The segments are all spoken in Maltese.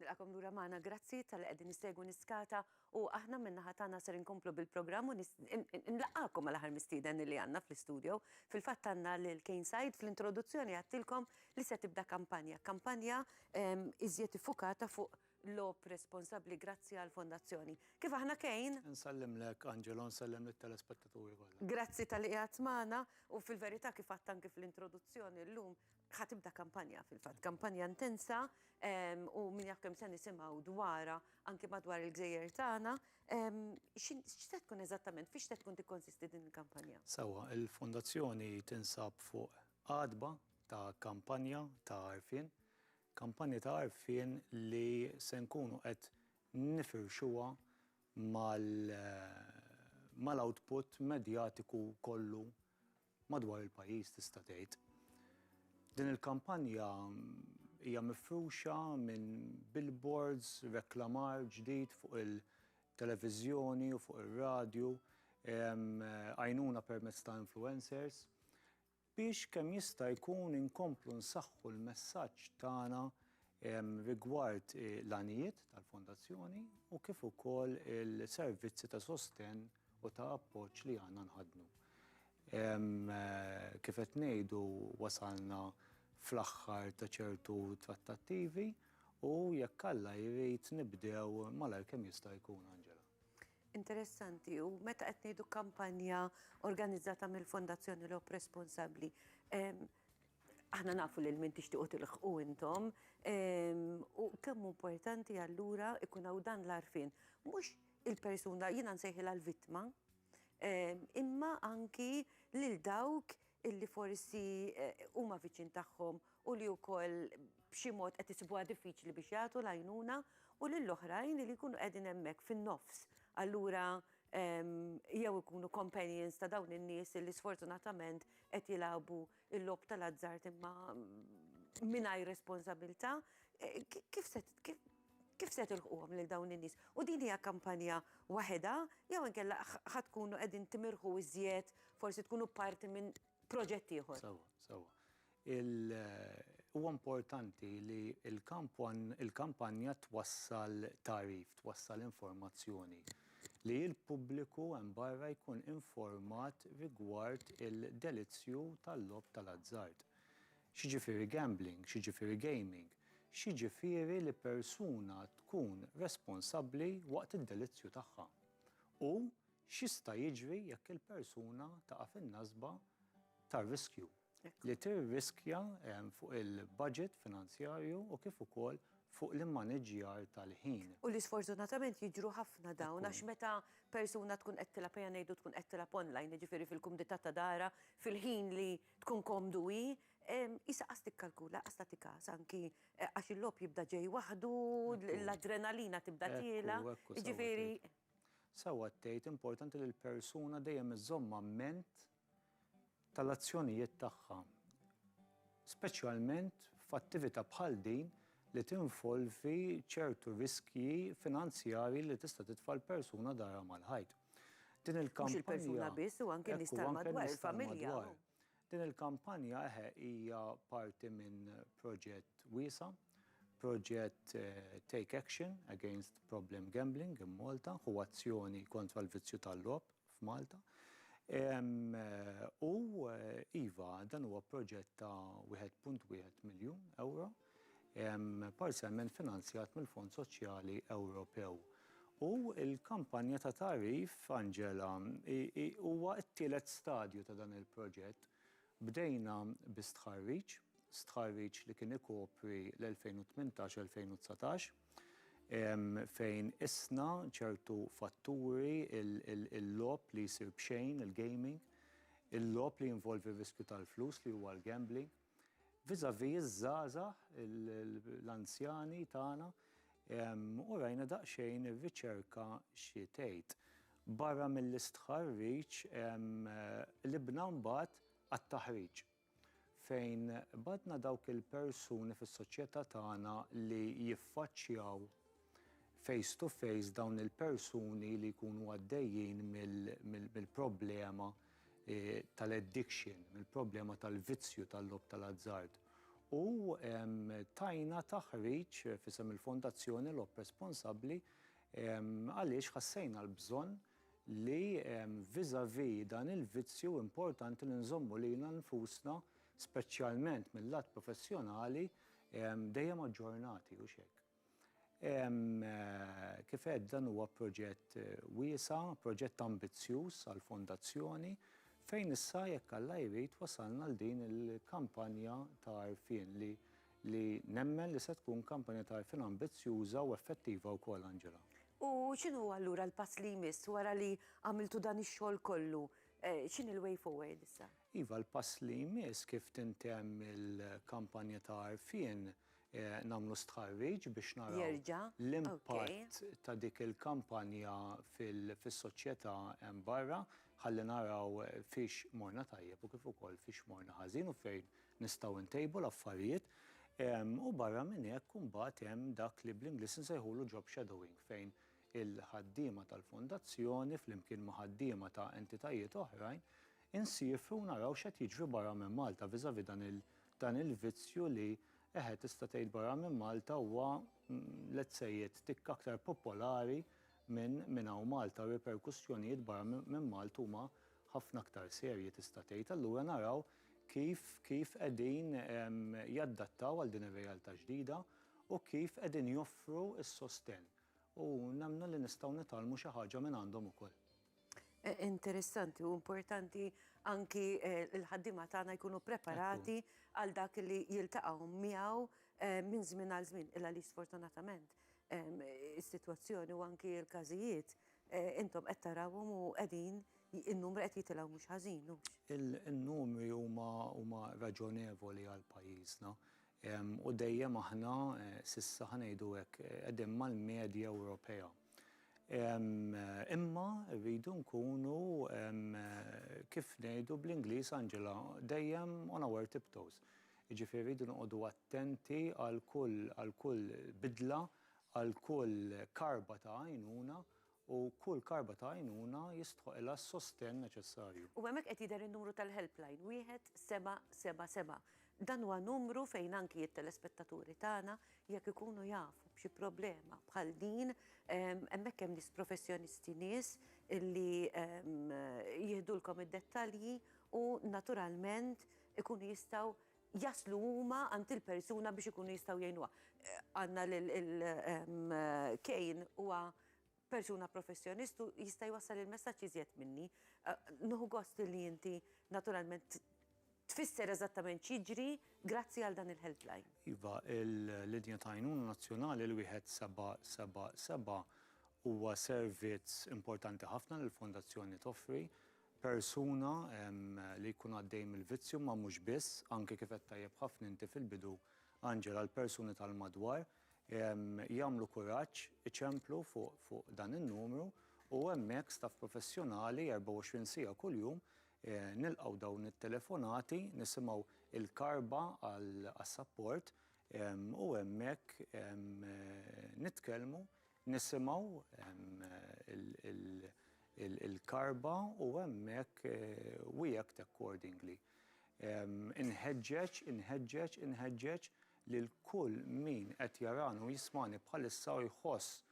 Nilqakom lura magħna, grazzi talli qegħdin issegwu Niskata u aħna min-naħa tagħna ser inkomplu bil-programm u nlaqgħakom mal-aħħar mistieden li għandna fl-istudio. Fil-fatt għandna lil Kane Said, fl-introduzzjoni għedtilkom li se tibda kampanja, kampanja iżjed iffukata fuq logħob responsabbli grazzi għall-Fondazzjoni. Kif aħna Kane? Insellimlek Angelo, nsellem lit-telespettaturi kollha. Grazzi talli qiegħed magħna u fil-verità kif għedt anki fl-introduzzjoni llum ħa tibda kampanja fil-fatt, kampanja intensa u min jaf kemm se nisimgħu dwarha anke madwar il-gżejjer tagħna. X'se tkun eżattament, fiex se tkun tikkonsisti din il-kampanja? Sewwa, il-Fondazzjoni tinsab fuq għatba ta' kampanja ta' għarfien, kampanja ta' għarfien li se nkunu qed nifirxuha mal-output medjatiku kollu madwar il-pajjiż tista' tgħid. Din il-kampanja hija mifruxa minn billboards, reklamar ġdid fuq il-televiżjoni u fuq ir-radju, għajnuna permezz ta' influencers, biex kemm jista' jkun inkomplu nsaħħu l-messaġġ tagħna rigward l-għanijiet tal-Fondazzjoni u kif ukoll il-servizzi ta' sostenn u ta' appoġġ li għandna nħaddnu. Kif qed ngħidu wasalna fl-aħħar ta' ċertu trattattivi u jekk Alla jrid nibdew malajr kemm jista' jkun, Angela. Interessanti, u meta qed ngħidu kampanja organizzata mill-Fondazzjoni Lop Responsabbli, aħna nafu lil min tixtiequ tilħqu intom, u kemm importanti allura ikun hawn dan l-għarfien. Mhux il-persuna, jiena nsejħilha l-vittma, imma anki lil dawk illi forsi huma viċin tagħhom u li wkoll b'xi mod qed isibuha diffiċli biex jagħtu l-għajnuna u lil oħrajn li jkunu qegħdin hemmhekk fin-nofs. Allura jew ikunu companions ta' dawn in-nies illi sfortunatament qed jilagħbu l-logħob tal-azzard imma mingħajr responsabilità, kif se, Kif se tilħquhom lil dawn in-nies? U din hija kampanja waħedha jew inkella ħa tkunu qegħdin timirħu iżjed, forsi tkunu parti minn proġett ieħor? Sewwa, sewwa. Huwa importanti li l-kampanja twassal tagħrif, twassal informazzjoni li l-pubbliku hemm barra jkun informat rigward il-delizzju tal-logħob tal-azzard. X'jiġifieri gambling, x'jiġifieri gaming, x'jiġifieri li persuna tkun responsabbli waqt id-delizzju tagħha u x'jista' jiġri jekk il-persuna taqa' fin-nasba tar-riskju, li tirriskja fuq il-baġit finanzjarju u kif ukoll fuq l-immaniġġjar tal-ħin. U li sfortunatament jiġru ħafna dawn għax meta persuna tkun qed tilgħab, ejja ngħidu tkun qed tilgħab online, jiġifieri fil-kumdità ta' darha, fil-ħin li Tkun komdu hi, qisha qas tikkalkula, qas tagħti kas anki għax il-logħob jibda ġej waħdu, l-adrenalina tibda tiela', jiġifieri. Sewwa tgħid, importanti li l-persuna dejjem iżżomm amment tal-azzjonijiet tagħha, speċjalment f'attività bħal din li tinvolvi ċertu riskji finanzjarji li tista' titfa' l-persuna darha mal-ħajt. Din il-kampanja. Mhux il-persuna biss u anke n-nies tal-madwar, il-familja. Din il-kampanja, eħe, hija parti minn proġett wiesa', proġett Take Action Against Problem Gambling in Malta, Ħu Azzjoni Kontra l-Vizzju tal-Logħob f'Malta. U iva, dan huwa proġett ta' 1.1 miljun ewro. parzjalment finanzjat mill-Fond Soċjali Ewropew. U l-kampanja ta' tagħrif, Angela, huwa t-tielet stadju ta' dan il-proġett. Bdejna bi stħarriġ, stħarriġ li kien ikopri l-2018-2019, fejn qisna ċertu fatturi, il-logħob li jsir b'xejn, il-gaming, il-logħob li jinvolvi r-riskju tal-flus li huwa l-gambling, vis-à-vis iż-żgħażagħ, l-anzjani tagħna, u rajna daqsxejn ir-riċerka xi tgħid. Barra mill-istħarriġ, qlibna mbagħad għat-taħriġ, fejn bagħatna dawk il-persuni fis-soċjetà tagħna li jiffaċċjaw, face to face dawn il-persuni li jkunu għaddejjin mill-problema tal-addiction, mill-problema tal-vizzju tal-logħob tal-azzard. U tajna taħriġ f'isem il-Fondazzjoni Logħob Responsabbli għaliex ħassejna l-bżonn li vis-à-vis dan il-vizzju importanti li nżommu lilna nfusna, speċjalment mil-lat professjonali, dejjem aġġornati, hux hekk? Kif għedt, dan huwa proġett wiesa', proġett ambizzjuż għall-Fondazzjoni, fejn issa jekk Alla jrid wasalna għal din il-kampanja ta' għarfien li li nemmen li se tkun kampanja ta' għarfien ambizzjuża u effettiva wkoll, Angela. U x'inhu allura l-pass li jmiss wara li għamiltu dan ix-xogħol kollu? X'inhi l-way forward issa? Iva, l-pass li jmiss kif tintemm il-kampanja ta' għarfien, nagħmlu stħarriġ biex naraw l-impatt ta' dik il-kampanja fis-soċjetà hemm barra ħalli naraw fiex morna tajjeb u kif ukoll fiex morna ħażin u fejn nistgħu ntejbu l-affarijiet. U barra minn hekk imbagħad hemm dak li bl-Ingliż insejħulu job shadowing fejn il-ħaddiema tal-fondazzjoni flimkien ma' ħaddiema ta' entitajiet oħrajn insiefu u naraw x'qed jiġri barra minn Malta vis-à-vis dan Dan il-vizzju li, eħe tista' tgħid barra minn Malta huwa, let's say it, tikk aktar popolari minn minn hawn Malta, r-riperkussjonijiet barra minn Malta huma ħafna aktar serji tista' tgħid. Allura naraw kif kif qegħdin jaddattaw għal din ir-realtà ġdida u kif qegħdin joffru s-sostenn. U nemmnu li nistgħu nitgħallmu xi ħaġa minn għandhom ukoll. Interessanti u importanti anki eh, il-ħaddima tagħna jkunu preparati għal dak li jiltaqgħu miegħu eh, minn żmien għal żmien illa li sfortunatament ehm, is-sitwazzjoni u anki l-każijiet eh, intom qed tarawhom u qegħdin in-numru qed jitilgħu mhux ħażin. u- Il-numri huma huma raġonevoli għal pajjiżna. Em, U dejjem aħna eh, sissa ħanejdu hekk eh, qegħdin mal-medja Ewropea. Imma rridu nkunu kif ngħidu bl-Ingliż Angela dejjem on our tip toes. Jiġifieri rridu noqogħdu attenti għal kull għal kull bidla, għal kull karba ta' għajnuna u kull karba ta' għajnuna jistħoqilha s-sostenn neċessarju. U hemmhekk qed jidher in-numru tal-helpline, wieħed seba' seba' seba', Dan huwa numru fejn anki t-telespettaturi tagħna jekk ikunu jafu b'xi problema bħal din, hemmhekk hemm nies professjonisti, nies li jihdulkom id-dettalji u naturalment ikunu jistgħu jaslu huma għand il-persuna biex ikunu jistgħu jgħinuha. Għandna lil Kane huwa persuna professjonist u jista' jwassal il-messaġġ iżjed minni. Nieħu gost li inti naturalment tfisser eżattament x'jiġri grazzi għal dan il-helpline. Iva, il-linja ta' għajnuna nazzjonali l-wieħed seba' seba' seba' huwa servizz importanti ħafna li l-Fondazzjoni toffri. Persuna li jkun għaddej mill-vizzju ma mhux biss, anke kif qed tajjeb ħafna inti fil-bidu, Angela, l-persuni tal-madwar. jagħmlu kuraġġ, iċemplu fuq dan in-numru u hemmhekk staff professjonali 24 siegħa kuljum nilqgħu dawn it-telefonati, nisimgħu l-karba għas-sapport u hemmhekk nitkellmu, nisimgħu l-karba u hemmhekk we act accordingly. Inħeġġeġ, inħeġġeġ, inħeġġeġ lil kull min qed jarani u jismagħni bħalissa u jħoss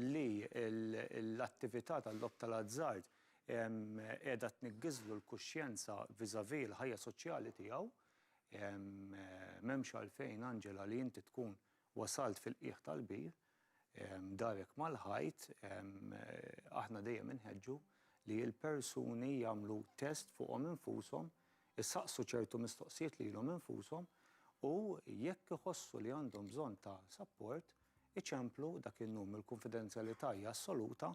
li l-attività tal-logħob tal-azzard qiegħda tniggiżlu l-kuxjenza vis-à-vis l-ħajja soċjali tiegħu. M'hemmx għalfejn, Angela, li inti tkun wasalt fil-qiegħ tal-bir. darek mal-ħajt, aħna dejjem inħeġġu li l-persuni jagħmlu test fuqhom infushom, isaqsu ċertu mistoqsijiet lilhom infushom u jekk iħossu li għandhom bżonn ta' sapport, iċemplu dak in-num. Il-kunfidenzjalità hija assoluta,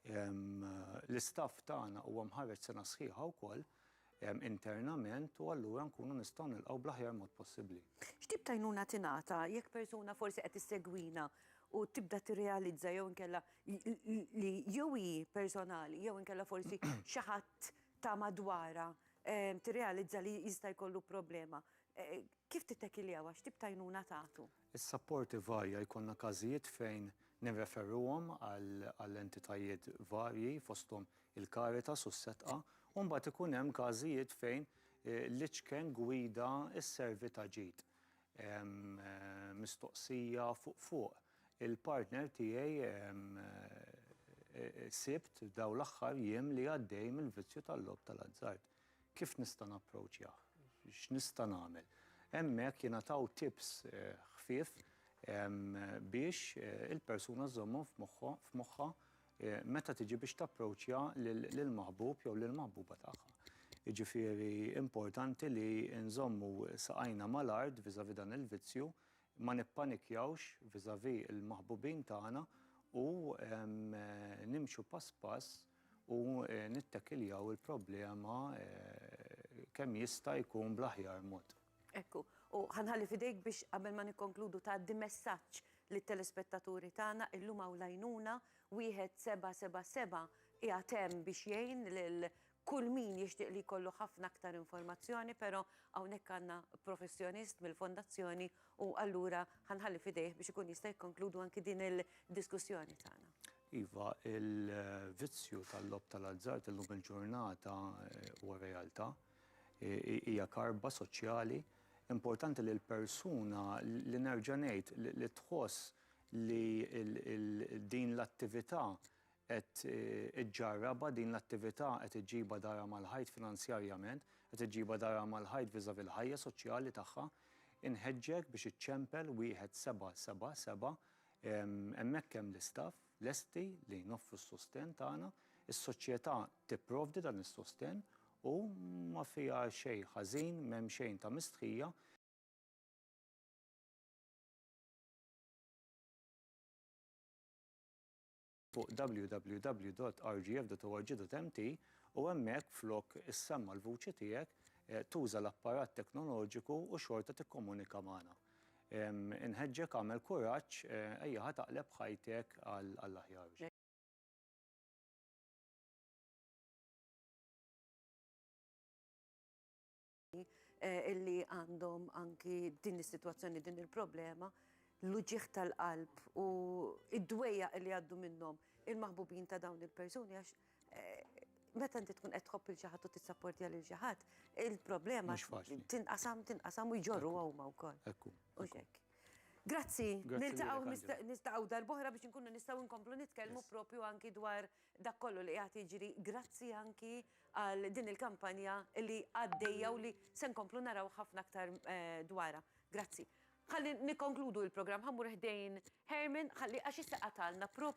l-istaff tagħna huwa mħarreġ sena sħiħa wkoll, internament u allura nkunu nistgħu nilqgħu bl-aħjar mod possibbli. X'tip ta' għajnuna tingħata jekk persuna forsi qed issegwina u tibda tirrealizza jew inkella li jew hi personali jew inkella forsi xi ħadd ta' madwarha tirrealizza li jista' jkollu problema. Kif tittakiljawa? X'tip ta' għajnuna tagħtu? Is-sapporti varja, jkollna każijiet fejn nirreferuhom għal entitajiet varji fosthom il-Caritas u s-Setqa u mbagħad ikun hemm każijiet fejn l-iċken gwida sservi ta' ġid. Mistoqsija fuq fuq, il-partner tiegħi sibt dawn l-aħħar jiem li għaddej mill-vizzju tal-logħob tal-azzard. Kif nista' napproċjah? X'nista' nagħmel? Hemmhekk jingħataw tips ħfief biex il-persuna żżommhom f'moħħha meta tiġi biex tapproċja lill-maħbub jew lill-maħbuba tagħha. Jiġifieri importanti li nżommu saqajna mal-art vis-à-vis dan il-vizzju, ma nippanikjawx vis-à-vis l-maħbubin tagħna u nimxu pass pass, u nittakiljaw il-problema kemm jista' jkun bl-aħjar mod. Hekk hu. U ħa nħalli f'idejk biex qabel ma nikkonkludu tgħaddi messaġġ lit-telespettaturi tagħna, illum hawn l-għajnuna, 1777 qiegħed hemm biex jgħin lil kull min jixtieq li jkollu ħafna aktar informazzjoni, però hawnhekk għandna professjonist mill-Fondazzjoni U allura ħa nħalli f'idejh biex ikun jista' jikkonkludu anki din il-diskussjoni tagħna. Iva, il-vizzju tal-logħob tal-azzard illum il-ġurnata huwa realtà. Hija karba soċjali. Importanti li l-persuna li nerġa' ngħid li tħoss li din l-attività qed iġġarrabha din l-attività qed iġġibha darha mal-ħajt finanzjarjament, qed iġġibha darha mal-ħajt vis-à-vis l-ħajja soċjali tagħha, inħeġġek biex iċċempel wieħed seba' seba' seba', hemmhekk hemm l-istaff lesti li noffru s-sostenn tagħna, is-soċjetà tipprovdi dan is-sostenn u ma fiha xejn ħażin, m'hemm xejn ta' mistħija. fuq www.rgf.org.mt u hemmhekk flok issemma' l-vuċi tiegħek, tuża l-apparat teknoloġiku u xorta tikkomunika magħna. Inħeġġek agħmel kuraġġ, ejjaha taqleb ħajtek għall-aħjar. illi għandhom anki din is-sitwazzjoni, din il-problema, l-uġieħ tal-qalb u id-dwejja li għaddu minnhom il-maħbubin ta' dawn il-persuni għax eh, meta inti tkun qed tħobb il xi ħadd u tissapportja lil xi ħadd, il-problema tinqasam tinqasam u jġorru huma wkoll. Ekku. U xek. Grazzi, niltaqgħu nistaqgħu darbohra biex inkunu nistgħu nkomplu nitkellmu propju anki dwar dak kollu li qiegħed jiġri grazzi anki għal din il-kampanja li għaddejja u li se nkomplu naraw ħafna aktar dwarha. Grazzi. Ħalli nikkonkludu l-programm, ħa mmur ħdejn Herman ħalli għax issa qatalna